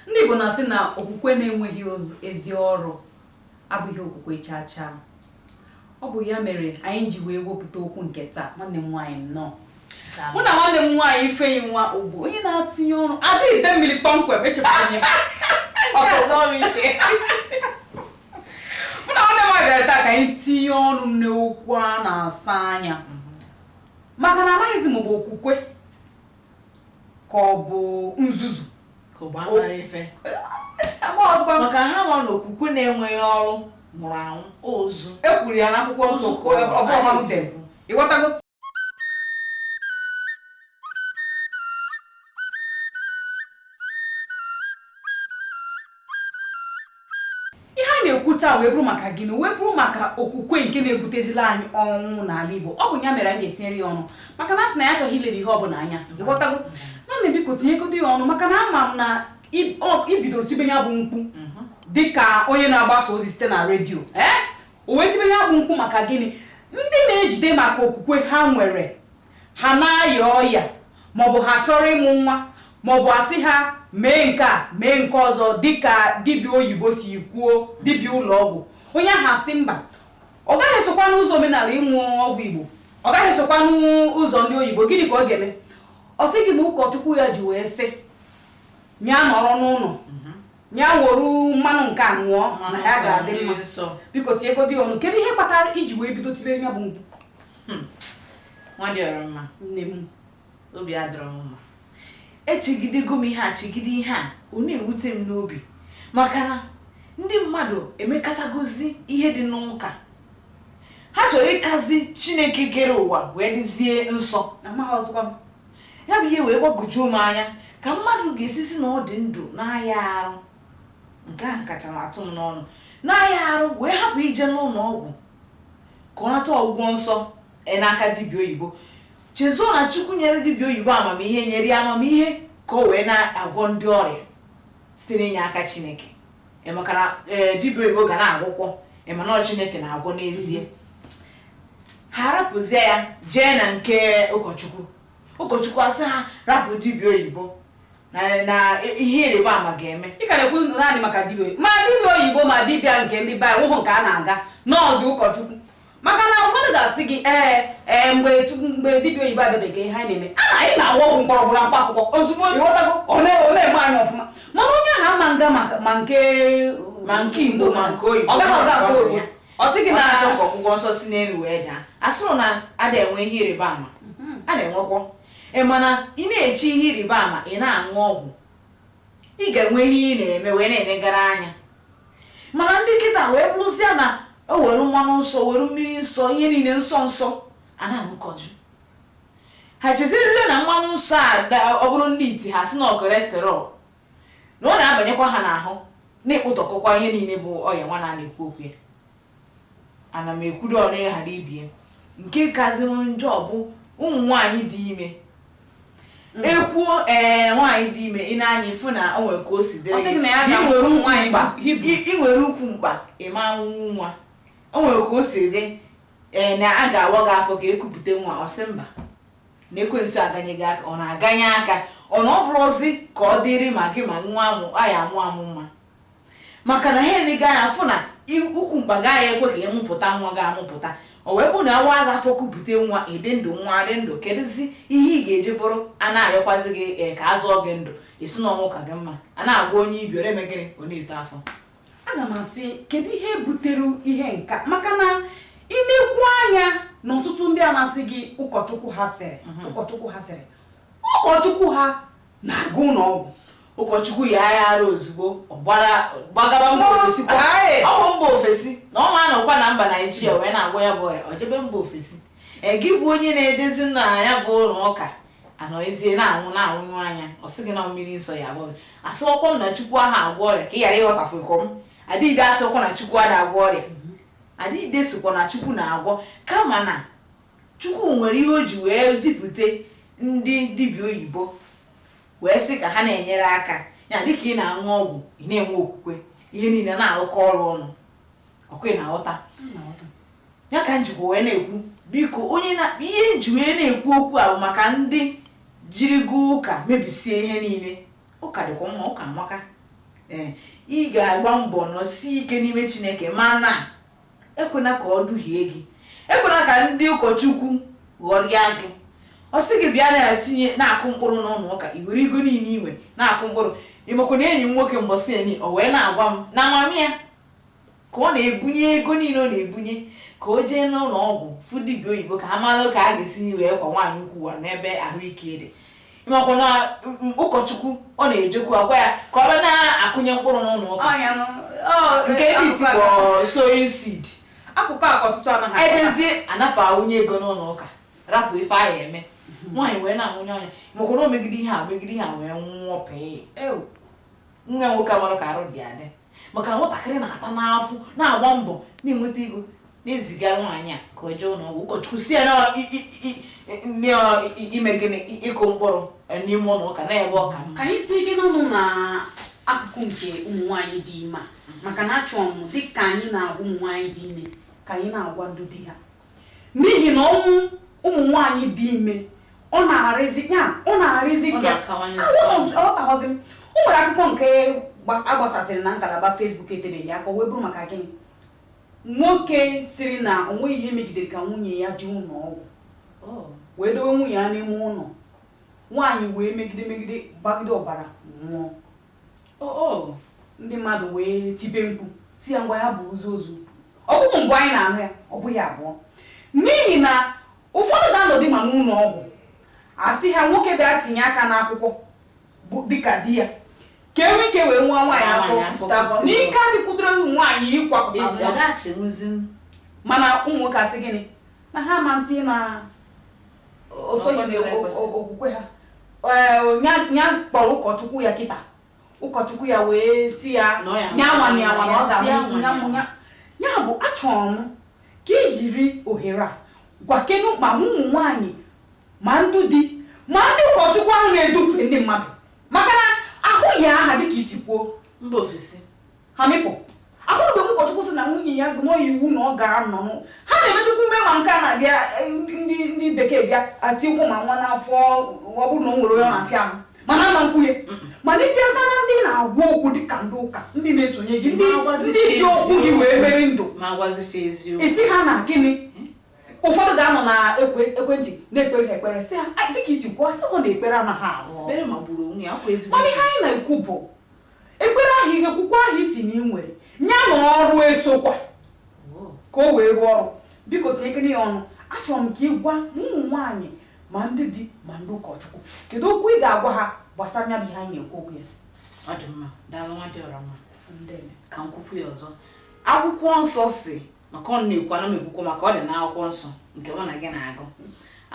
Ndị Igbo na-asị na okwukwe na-enweghị ezi ọrụ abụghị okwukwe chaa chaa. Ọ bụ ya mere anyị ji wee wepụta okwu nke taa nwanne m nwaanyị nnọọ mụ na nwanne m nwaanyị Ifeyinwa Ogbo onye na-atinye ọrụ adịghị ide mmiri kpọmkwem echefuru mụ na nwanne m nwaanyị bịara taa ka anyị tinye ọnụ n'okwu a na-asa anya maka na amaghịzi m bụ okwukwe ka ọ bụ nzuzu ka ọ bụ amara ife maka ha nọ n'okwukwe na-enweghị ọrụ nwụrụ anwụ ozu e kwuru ya n'akwụkwọ nsọ ịghọtago ihe a na-ekwu taa wee bụrụ maka gịnị wee bụrụ maka okwukwe nke na-ebutezila anyị ọnwụ n'ala Igbo ọ bụ ya mere anyị ga-etinyere ya ọnụ maka na asị na ya achọghị ilere ihe ọ bụla anya ịghọtago nwanne biko tinyegodo ya ọnụ maka na ama m na i bidoro tibe ya bụ mkpu mhm. dịka onye na-agbasa ozi site na redio ee eh? o wee tibe ya bụ mkpu maka gịnị ndị na-ejide maka okwukwe ha nwere ha na-aya ọya maọbụ ha chọrọ ịmụ nwa maọbụ asị ha mee nke a mee nke ọzọ dịka dibịa oyibo si kwuo dibịa ụlọọgwụ onye ahụ asị mba ọ gaghị esokwa n'ụzọ omenala ịṅụ ọgwụ igbo ọ gaghị esokwa n'ụzọ ndị oyibo gịnị ka ọ ga-eme ọ sị gị na ụkọchukwu ya ji wee sị ya nọrọ n'ụlọ ya were mmanụ nke a ṅụọ na ya ga-adị mma biko tinyegodi ọnụ kedu ihe kpatara iji wee bido tibe ya bụ mkpu hmm. nwa dị ọra mma nne m obi adịrọ m mma echegidego m ihe a chegide ihe a ọ na-ewute m n'obi maka na ndị mmadụ emekatagozi ihe dị n'ụka ha chọrọ ịkazi chineke kere ụwa wee dịzie nsọ Ya bụ ihe wee gbagwojuo m anya ka mmadụ ga-esi si na ọ dị ndụ na-aya arụ nke ahụ kacha m atụ m n'ọnụ na-aya arụ wee hapụ ije n'ụlọ ọgwụ ka ọ nata ọgwụgwọ nsọ e n'aka dibịa oyibo chezọ na chukwu nyere dibịa oyibo amamihe nyere ya amamihe ka o wee na-agwọ ndị ọrịa site n'inye aka chineke ị maka na ee dibịa oyibo ga na-agwọkwọ ị ma na ọ chineke na-agwọ n'ezie ha rapụzie ya jee na nke ụkọchukwu ụkọchukwu asị ha rapụ dibịa oyibo na na ihe ịrịba ama ga-eme ị ka na-ekwu naanị maka dibịa oyibo ma dibịa oyibo ma dibịa nke ndị be anyị o nwehụ nke a na-aga na ọ sọ ụkọchukwu maka na ụfọdụ ga-asị gị ee ee mgbe tu- mgbe dibịa oyibo abịabeghị ihe anyị na-eme a anyị na-aṅụ ọgwụ mkpọrọgwụ na mkpa akwụkwọ ozugbo ịghọtago ọ na- ọ na-eme anyị ọfụma mana onye ahụ ama nga maka- ma nke Ma nke Igbo, ma nke oyibo. ọ gaghị aga aga oyibo ọ sị gị na na achọ ka ọgwụgwọ nsọ si n'elu wee daa asịrọ na a da-enwe ihe ịrịba ama a na-enwekwọ mana ị na-eche ihe ịrịba ama ị na-aṅụ ọgwụ ị ga-enwe ihe ị na-eme wee na-enegara anya mana ndị kịta wee bụrụzie na o were mmanụ nsọ were mmiri nsọ ihe niile nsọ nsọ a na-aṅụkọju ha chezirire na mmanụ nsọ a da- ọ bụrụ ndị iti ha sị na cholesterol na ọ na-abanyekwa ha n'ahụ na-ekpụtọkọkwa ihe niile bụ ọya nwa a na-ekwu okwu ya ana m ekwudo one ghara ibie nke kaziri njọ bụ ụmụ nwaanyị dị ime ekwuo ee nwaanyị dị ime ị nee anya ị fụ na o nwere ka o si dịrị Ọ sị gị na ya gị. Ị ga-amụ nwere ụmụ ukwu nwaanyị mkpa Hibru. ị- ị nwere ukwu mkpa ị ma amụ nwa o nwere ka o si dị ee na a ga-awa gị afọ ka e kupụta nwa ọ sị mba na ekwensu aganye gị aka ọ na-aganye aka ọ na ọ bụrụzi ka ọ dịrị ma gị ma nwa amụ a ya amụ amụ nwa maka na ha ene gị anya afụ na i- ukwu mkpa gaghị ekwe ka ị mụpụta nwa gị amụpụta o wee bụrụ na a waa gị afọ kupụta nwa ị dị ndụ nwa adị ndụ kedụzi ihe ị ga-eji bụrụ a na-ayọkwazi gị ee, ka a zọọ gị ndụ ị sị na ọnwụ ka gị mma a na-agwọ onye ibi ọ na-eme gịnị ọ na-eto afọ aga m asị kedu ihe butere ihe nka maka na ị nekwuo anya na ọtụtụ ndị a na-asị gị ụkọchukwu ha sịrị ụkọchukwu ha sịrị ụkọchukwu ha na-aga ụlọ ọgwụ ụkọchukwu yaa arụ ozugbo ọ gbara- gbagaba mba ofesi kwa. Aye. ọ bụ mba ofesi na ọ ma anọkwa na mba naijiria wee na-agwọ ya bụ ọrịa ọ jebe mba ofesi Ee, gị bụ onye na-ejezi na ya bụ ụlọ ụka anọzie na-anwụ na-anwụnyụ anya ọ sị gị na mmiri nsọ ya agwọ gị asịọkwa m na chukwu aha agwọ ọrịa ka ị ghara ịghọtafu nke ọma adịghịde asịọkwa na chukwu ada agwọ ọrịa adịghịde sokwa na chukwu na-agwọ kama na Chukwu nwere ihe o ji wee zipute ndị dibịa oyibo wee sị ka ha na-enyere aka ya dịka ị na-aṅụ ọgwụ ị na-enwe okwukwe ihe niile na-arụkọ ọrụ ọnụ ọkwa ị na-aghọta ya ka m jikwa wee na-ekwu biko onye na ihe m ji wee na-ekwu okwu a bụ maka ndị jirigo ụka mebisie ihe niile ụka dịkwa mma ụka amaka ee ị ga-agba mbọ nọsie ike n'ime chineke mana Ekwena ka ọ duhie gị. Ekwena ka ndị ụkọchukwu ghọrịa gị. Ọ sị gị bịa na-etinye na-akụ mkpụrụ n'ụlọụka, i were ego niile i nwe na-akụ mkpụrụ. Ị makwa na enyi m nwoke mbọsị eni, o wee na-agwa m na mama ya ka ọ na-ebunye ego niile ọ na-ebunye ka o jee n'ụlọọgwụ fụ dibịa oyibo ka a mara ka a ga-esi wee kwa nwaanyị ukwu wa n'ebe ahụike dị. makwa na ụkọchukwu ọ na-ejekwu agwa ya ka ọ na-akụnye mkpụrụ n'ụlọ ụka nke ndị tikpọ sowing seed akụkọ a ọtụtụ anaghị edezie anafa awụnye ego n'ụlọ ụka rapụ ife ahụ eme mhm. nwaanyị wee na-anwụnyụ anya makwa na o megide ihe a megide ihe a wee nwụọ pee nwa nwoke amarọ ka arụ dị adị maka na nwatakịrị na-ata n'afọ na-agba mbọ na-enweta ego na-ezigara nwaanyị a ka o jee ụlọ ọgwụ ụkọchukwu si ya na ọ- i- i- i- i- na ọ- i- ime gịnị I- ịkụ mkpụrụ eh, n'ime ụlọ ụka na ebe ọ ka mma ka anyị tinyekene ọnụ na akụkụ nke ụmụ nwaanyị dị ime a maka na achọrọ m dịka anyị na-agwa ụmụ nwaanyị dị ime ka anyị na-agwa ndị di ha N'ihi na ọnwụ ụmụ nwaanyị dị ime ọ na-arịzi ya ọ na-arịzi ka ọtaghọzi m o nwere akụkọ nke agbasasịrị na ngalaba Facebook etebeghị aka o wee bụrụ maka gịnị nwoke siri na o nweghị ihe megidere ka nwunye ya jee ụlọ ọgwụ wee dowe nwunye ya n'ime ụlọ nwaanyị wee megide megide gbagide ọbara nwụọ o o ndị mmadụ wee tibe mkpu si ya ngwa ya buzie ozu ọ bụghị mbụ anyị na-anụ ya ọ bụghị abụọ n'ihi na ụfọdụ ga-anọdụ ma n'ụlọ ọgwụ asị ha nwoke bịa tinye aka n'akwụkwọ bụ dịka di ya ka e nwee ike wee waa nwaanyị afọ n'ike adịkwudoro ụmụ nwaanyị ịkwapụta nwa. mana ụmụ nwoke asị gịnị na ha ma ntị na o soghị okwukwe ha ya kpọrọ ụkọchukwu ya kịta ụkọchukwu ya wee si ya nyanwa nyanwa na ọ ga-amụ ya bụ achọrọ m ka i jiri ohere a gwakenu ma ụmụ nwaanyị ma ndị di ma ndị ụkọchukwu ahụ na-edufe ndị mmadụ maka na ahụghị aha dịka i si kwuo mba ofesi ha mịpụ ahụrụ mgbe ụkọchukwu sị na nwunye ya gụọ iwu na ọ gara nọ ha na-emechukwu mee ma nke a na-abịa eh, ndị bekee bịa atikwụ ma nwa n'afọ ọ bụrụ na o nwere onye na-afịa ahụ mana ama nkwunye mana ịbịaza na ndị na-agwa okwu dịka ndị ụka ndị na-esonye gị ndị ji okwu gị wee mere ndụ isi ha na gịnị ụfọdụ ga-anọ na ekwentị na-ekpere ha ekpere sị ha dịka i si kwuo asịghọ na ekpere anaghị arụ ọrụ mana ihe anyị na-ekwu bụ Ekpere ahụ ihe okwukwe ahụ ị sị na ị nwere ya na ọrụ esokwa ka o wee rụọ ọrụ biko tinyekene ya ọnụ achọrọ m ka ị gwa ma ụmụ nwaanyị ma ndị di ma ndị ụkọchukwu kedu okwu ị ga-agwa ha gbasara ya bụ ihe anyị na-ekwu okwu ya ọ dị mma daalụ nwa dị ọra mma Ndeme. ka m kwukwuo ya ọzọ akwụkwọ nsọ si maka ọ na-ekwu ana m ekwukwa maka ọ dị na akwụkwọ nsọ nke mụ na gị na-agụ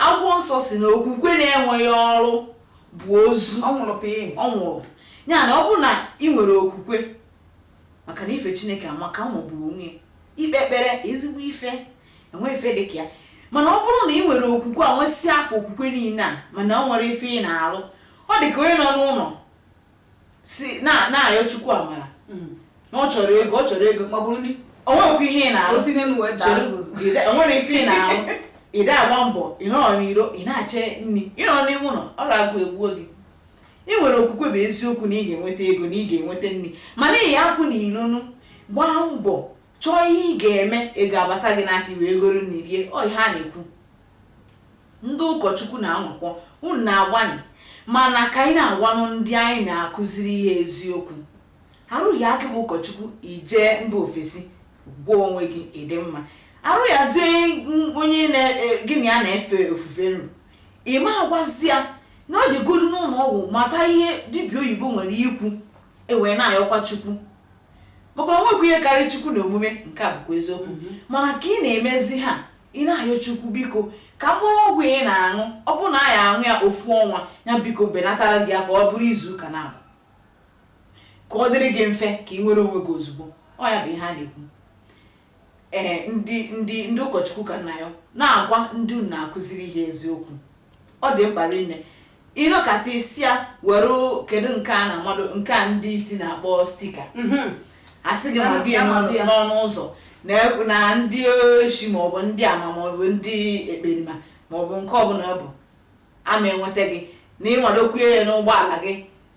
akwụkwọ nsọ si na okwukwe na-enweghị ọrụ bụ ozu ọ nwụrụ pịị ọ nwụrụ ya na ọ bụrụ na ị nwere okwukwe maka na ife chineke amaka ọ magburu onwe ya ikpe ekpere ezigbo ife enwe ife dị ka ya mana ọ bụrụ na ị nwere okwukwe a nwesịa afọ okwukwe niile a mana o nwerọ ife ị na-alụ ọ dị ka onye nọ n'ụlọ si na- na-ayọ chukwu amara Mm. na ọ chọrọ ego ọ chọrọ ego o nwekwa ihe ị na-arụ o nwere ife ị na-arụ ị da-agba mbọ ị nọrọ n'iro ị na-ache nri ị nọrọ n'ime ụlọ ọrụ agụụ egbuo gị ị nwere okwukwe bụ eziokwu na ị ga-enweta ego na ị ga-enweta nri mana ị ya-apụ n'ilonụ gbaa mbọ chọọ ihe ị ga-eme ego abata gị n'aka ị wee goro nri rie ọ ihe a na-ekwu ndị ụkọchukwu na-anwakwọ unu na-agbanị mana ka anyị na-agwanụ ndị anyị na-akụziri ihe eziokwu arụ yaa gị bụ ụkọchukwu i jee mba ofesi gwọọ onwe gị ị dị mma arụ yazie onye gị na ya na-efe ofufe nru ị ma agwazi ya na ọ jegodu n'ụlọ ọgwụ mata ihe dibịa oyibo nwere ikwu e wee na-ayọkwa chukwu maka na o nwekwa ihe karịrị chukwu na omume nke a bụkwa eziokwu mhm. mana ka ị na-emezi ha ị na-ayọ chukwu biko ka mkpụrụ ọgwụ ị na-aṅụ ọ bụ na a ya-aṅụ ya ofu ọnwa ya biko benatara gị ya ka ọ bụrụ izu ụka naabọ ka ọ dịrị gị mfe ka ị nwere onwe gị ozugbo ọ ya bụ ihe a na-ekwu ee eh, ndị ndị ndị ụkọchukwu ka m na-ayọ na-agwa ndị unu na-akụziri ihe eziokwu ọ dị mkpa rinne ị nọkasị ị sị ya were kedu nke a na-amado nke a ndị iti na-akpọ stika mhm. a sị gị mabie n'ọnụ ụzọ na ndị oshi maọbụ ndị ama maọbụ ndị ekperima maọbụ nke ọbụla ọ bụ ama enweta gị na ị madokwuo ya n'ụgbọala gị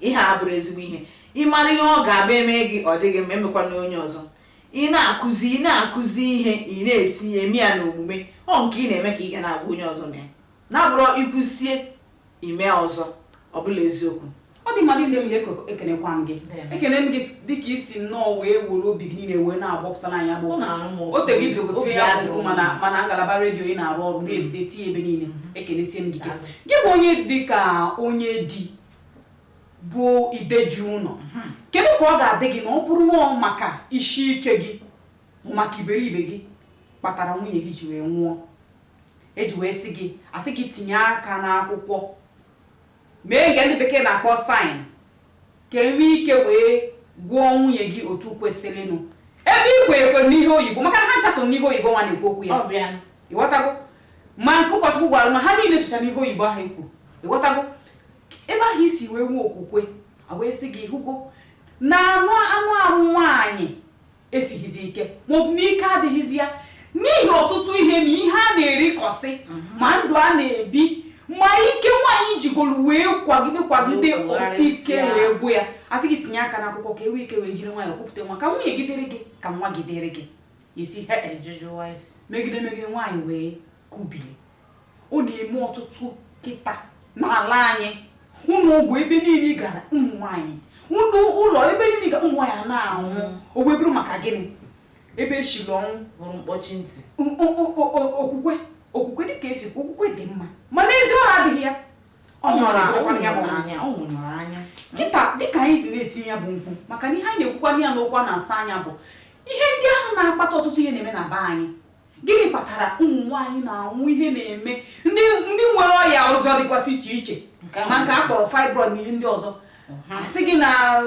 Ihe a abụrụ ezigbo ihe. Ị mara ihe ọ ga-abụ e mee gị, ọ dịghị mma, emekwana onye ọzọ. Ị na-akụzi ị na-akụzi ihe, ị na-etinye eme ya n'omume, ọ nke ị na-eme ka ị ga na-agwa onye ọzọ mee. Na abụrọ i kwusie, i mee ọzọ. Ọ bụla eziokwu. Ọ dị mma niile m na-ekoko ekenekwa m gị. Ekene m gị dịka i si nnọọ wee were obi gị niile wee na-agbapụtala anyị agbụ. O tere i bidogo tinye ya bụ mana ngalaba redio ị na-arụ ọrụ na-etinye ebe niile. Ekenesie m gị. Daalụ. Gị bụ onye dị ka onye di bụ ide ji ụlọ mhm. kedu ka ọ ga-adị gị na ọ bụrụ na ọ maka isi ike gị maka iberibe gị kpatara nwunye gị ji wee nwụọ e ji wee sị gị a sị gị tinye aka n'akwụkwọ mee nke ndị bekee na-akpọ saịn ka e nwee ike wee gwọọ nwunye gị otu kwesịrịnụ ebe i kwe ekwe n'ihe oyibo maka na ha ncha so n'ihe oyibo nwa a na-ekwu okwu ya ị ghọtago ma nke ụkọchukwu gwara na ha niile socha n'ihe oyibo ahụ i kwu ị ghọtago ebe ahụ i si wee nwee okwukwe e wee sị gị ị hụgo na anụ anụ arụ nwaanyị esighịzi ike maọbụ na ike adịghịzi ya n'ihi ọtụtụ ihe ma ihe a na-erikọsị mhm. ma ndụ a na-ebi ma ike nwaanyị jigoro wee kwagide kwagide ike wee gwụ ya a sị gị tinye aka n'akwụkwọ ka e nwee ike wee jiri nwayọọ kupụta nwa ka nwunye gị dịrị gị ka nwa gị dịrị gị esi megide megide nwaanyị wee kubie ọ na-eme ọtụtụ kịta n'ala anyị ụlọ ọgwụ ebe niile ị gara ụmụ nwaanyị ndị ụlọ ebe niile ga ụmụ nwaanyị na-anwụ mm. o wee bụrụ maka gịnị ebe e siri ọnwụ bụrụ mkpọchi ntị okwukwe okwukwe dịka e si kwu okwukwe dị mma mana ezi ọrụ adịghị ya ọ nwụrụ anwụ ọ nwụrụ anwụ kịta dịka anyị dị na-eti ya bụ mkpu maka na ihe anyị na-ekwukwa ya n'okwu a na-asọ anya bụ ihe ndị ahụ na-akpata ọtụtụ ihe na-eme na be anyị Gịnị kpatara ụmụ nwaanyị na-anwụ ihe na-eme ndị ndị nwere ọya ọzọ dịkwasị iche iche Nke ahụ. ma nke a kpọrọ fibroid na ihe ndị ọzọ a sị gị na a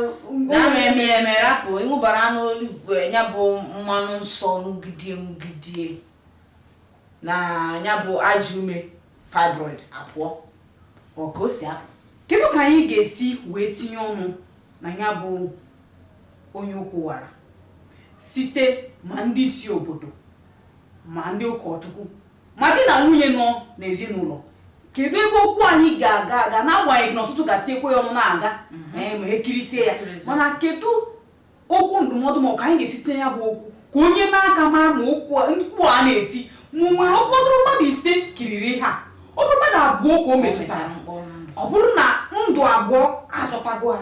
ma eme ya eme rapụ ịṅụbara aṅụ olive oil, ya bụ mmanụ nsọ ṅụgidie ṅụgidie na ya bụ ajọ ume fibroid apụọ ọ ka o si apụ kedu ka anyị ga-esi wee tinye ọnụ na ya bụ onye ụkwụ wara site ma ndị isi obodo ma ndị ụkọchukwu ma di na nwunye nọ n'ezinụlọ kedu ebe okwu anyị ga-aga aga n'agbanyeghị na ọtụtụ ga-etinyekwa ya ọnụ na-aga ee, ma e kirisie ya Ekirisie. mana kedu okwu ndụmọdụ ma ọ ka anyị ga-esi tinye ya bụ okwu ka onye n'aka mara ma okwu a- mkpu a na-eti ma o nwere ụfọdụrụ mmadụ ise kiriri ha ọ bụrụ mmadụ abụọ ka o metụtara ọ bụrụ na ndụ abụọ azọtago ha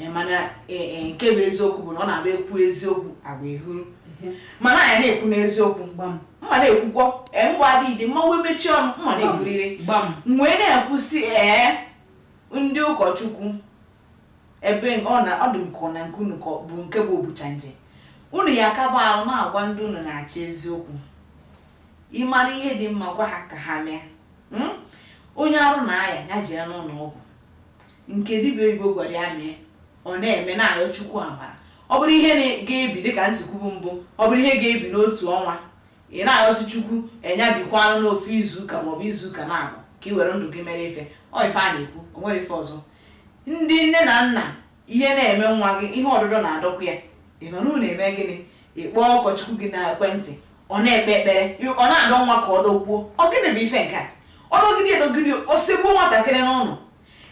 Eh, mana eh, eh, nke bụ eziokwu bụ na ọ na-abụ ekwu eziokwu agwa ehuru mana anyị na-ekwu n'eziokwu mma na-ekwukwọ mgbe adịghị dị mma wee mechie ọnụ mma na-ekwurịrị wee na-ekwusị ee ndị ụkọchukwu ebe ọ na ọ dị m ka ọ na nke unu ka bụ nke bụ obucha nje unu ya akaba ahụ na-agwa ndị unu na-achị eziokwu ị mara ihe dị mma gwa ha ka ha mee hmm? onye arụ na-aya ya jee n'ụlọ ọgwụ nke dibịa oyibo gwara ya mee ọ na-eme na-ayọ Chukwu amara ọ bụrụ ihe na- ga-ebi dịka m si kwubu mbụ ọ bụrụ ihe ga-ebi n'otu ọnwa ị na-ayọzi Chukwu nya bikwanụ n'ofu izuụka maọbụ izuụka naabọ ka ị were ndụ gị mere ife ọ ife a na-ekwu o nwere ife ọzọ ndị nne na nna ihe na-eme nwa gị ihe ọdụdọ na-adọkwa ya ị nọ n'ụlọ eme gịnị ị kpọọ ụkọchukwu gị na ekwentị ọ na-ekpe ekpere ị- ọ na-adọ nwa ka ọ dọgbuo ọ gịnị bụ ife nke a ọ dọgide adọgide o segbuo nwatakịrị n'ụlọ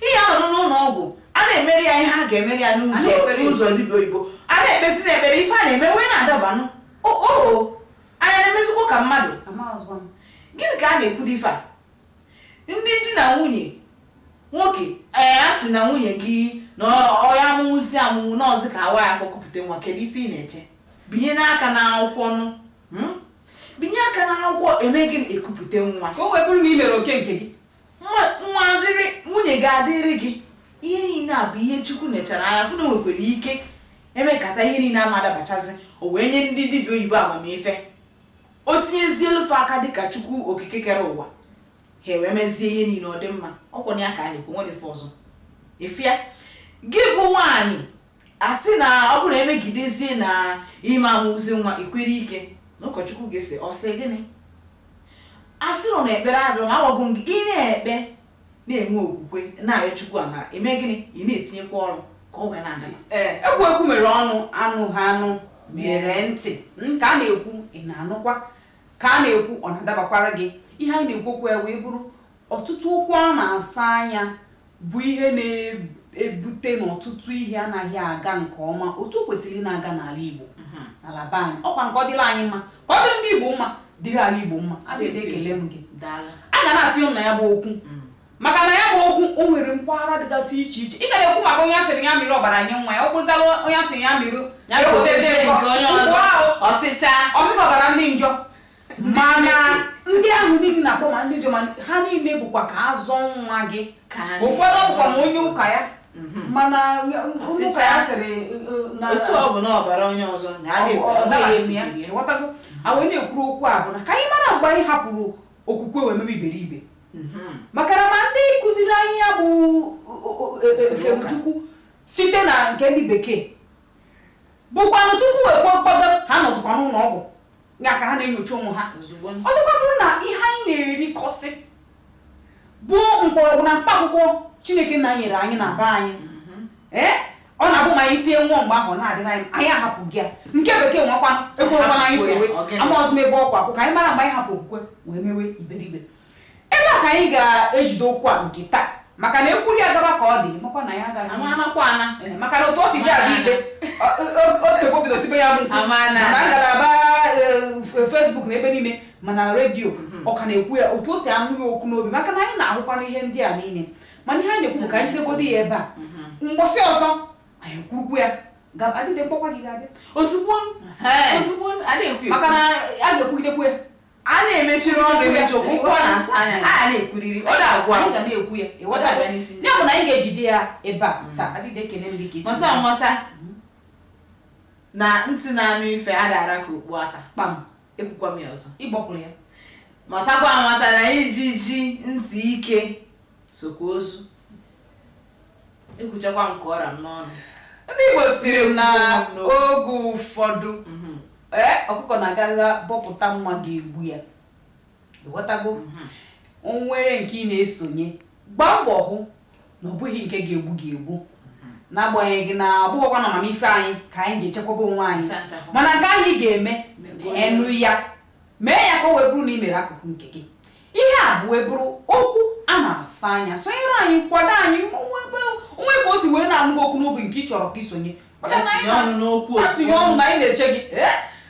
Ihe a nọdụ n'ụlọ ọgwụ, a na-emere ya ihe a ga-emere ya n'ụzọ n'ụzọ dibịa oyibo. A na-ekpezi na ekpere ife a na-eme wee na-adabanụ. O o anyị a na-emezikwa ka mmadụ. Gịnị ka a na-ekwudu ife a? Ndị di na nwunye nwoke ee a sị na nwunye gị na ọ ya amụwụzi amụwụ n'ọzi ka a waa ya afọ kupụta nwa kedu ife ị na-eche? Binye n'aka n'akwụkwọ nụ. Hmm? Binye aka n'akwụkwọ eme gịnị e kupụta nwa. Ka o wee bụrụ na i mere oke nke gị. nwa nwa adịrị nwunye gị adịrị gị ihe niile a bụ ihe chukwu nechara anya fụ na o nwekwara ike e mekata ihe niile ama adabachazi o wee nye ndị dibịa oyibo amamife o tinyezie elufe aka dịka chukwu okike kere ụwa ha ewee mezie ihe niile ọ dị mma ọ kwanụ ya ka a na-ekwu nwere ife ọzọ ị fụ ya gị bụ nwaanyị a sị na ọ bụrụ na e megidezie na ị ma amụzi nwa i kwere ike na ụkọchukwu gị sị ọ sị gịnị a sịrọ na ekpere adịrọ mma agwago m gị ị na-ekpe na-enwe okwukwe na-arịọ chukwu amara eme gịnị ị na-etinyekwa ọrụ ka o wee na-aga ee ekwu ekwu mere ọnụ anụghị anụ mere ntị ka a na-ekwu ị na-anụkwa ka a na-ekwu ọ na-adabakwara gị ihe anyị na-ekwu okwu ya wee bụrụ Ọtụtụ okwu a na-asa anya bụ ihe na-ebute na ọtụtụ ihe anaghị aga nke ọma otu o kwesịrị ị na-aga n'ala Igbo n'ala be anyị ọkwa nke ọ dịrị anyị mma ka ọ dịrị ndị Igbo mma dịrị ala Igbo mma Adịde ekele m gị Daalụ. a ga na-atinye ọnụ na ya bụ okwu maka na ya bụ okwu o nwere mpaghara dịgasị iche iche ị ka na-ekwu maka onye a sịrị ya mịrị ọbara nye nwa ya ọ bụzala onye a sịrị ya mịrị Ya bụ otezie nke onye ọzọ. Ọ sịcha. ọsịkọtara ndị njọ mana ndị ahụ niile na-akpọ ma ndị jọ ma ha niile bụkwa ka a zọọ nwa gị Ka anyị- ụfọdụ bụkwa ma onye ụka ya mana onye ụka ya sịrị uh, na otu ọ bụ na ọbara onye ọzọ na a na-ekwu ọ ọ dara dịghị ya eme ya. ịghọtago a wee na-ekwuru okwu a bụ na ka anyị mara mgbe anyị hapụrụ okwukwe wee mebe iberibe Mhm. maka na ma ndị kụziri anyị ya bụ o- o- e- e- Usoro ụka. Chukwu site na nke ndị bekee bụkwanụ tupu ekwe mkpọdo ha nọzikwa n'ụlọ ọgwụ ya ka ha na-enyocha onwe ha ozugbo ọzọkwa bụrụ na ihe anyị na-erikọsị bụ mkpọrọgwụ na mkpa akwụkwọ chineke nna nyere anyị na be anyị ee ọ na-abụ ma anyị sie ṅụọ mgbe ahụ ọ na-adịrị anyị anyị ahapụgo ya nke bekee nwakwa ekwekwana anyị so Ọ gịnị? amarọzị m ebe ọ kwụ akwụ ka anyị mara mgbe anyị hapụ okwukwe wee mewe iberibe Ebe a ka anyị ga-ejide okwu a nke taa maka na e kwuru ya gaba ka ọ dị makwa na ya agaghị Ama anakwa ana. Eh, maka na otu o si dị Adịde otego bido tibe ya bụ mkpu. Ama na- mana ngalaba eh, Facebook na ebe niile mana redio ọ ka na-ekwu ya otu o si anụ ya ọkụ n'obi maka na anyị na-ahụkwanụ ihe ndị a niile mana ihe anyị na-ekwu bụ ka anyị jidegodo ya ebe a mgbọsị ọzọ anyị kwurukwu ya ga- Adịde m kpọkwa gị ga-abịa Ozugbo Ehe. ozugbo adịghị ekwu maka na a ga-ekwugidekwu ya a na-emechiri ọnụ emechi okwu okwu a na-asa anya a na-ekwuriri ọ na-agwụ anyị agwụ ga na-ekwu ya ịghọta abịa n'isi ya bụ na anyị ga-ejide ya ebe a taa Adịde ekele m gị ka isi mata amata na ntị na-anụ ife a dara ka okpu ata kpam ekwukwa m ya ọzọ ịgbọpụrụ ya matakwa amata na ijiji ntị ike sokwa ozu ekwuchakwa m ka ọ ra m n'ọnụ ndị igbo siri na oge ụfọdụ mhm. ee ọkụkọ na-agagha bọpụta mma ga-egbu ya ịghọtago mhm. o nwere nke ị na-esonye gbaa mbọ hụ na ọ bụghị nke ga-egbu gị egbu mhm. n'agbanyeghị na abụghọkwa na amamife anyị ka anyị ji echekwaba onwe anyị mana nke ị ga-emenwu ya mee ya ka o wee bụrụ na ị mere akụkụ nke gị Ihe a bụ wee bụrụ okwu a na-asa anya. Sonyere anyị, kwado anyị, o nwee ka o si wee na-anụ ọkụ n'obi nke ị chọrọ ka i sonye. Tinye ọnụ na anyị na-eche gị.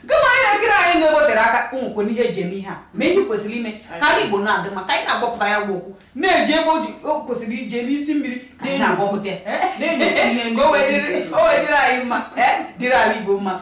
Gịnwa onye na-ekiri anyị na-ewetere aka ụmụkwe n'ihe e ji eme ihe a ma ihe kwesịrị ime ka ndị Igbo na-adị mma ka anyị na-agbapụta ya bụ okwu na-eje ebe o kwesịrị ije n'isi mmiri ka anyị na-agbapụta ya o wee dịrị anyị mma dịrị ala Igbo mma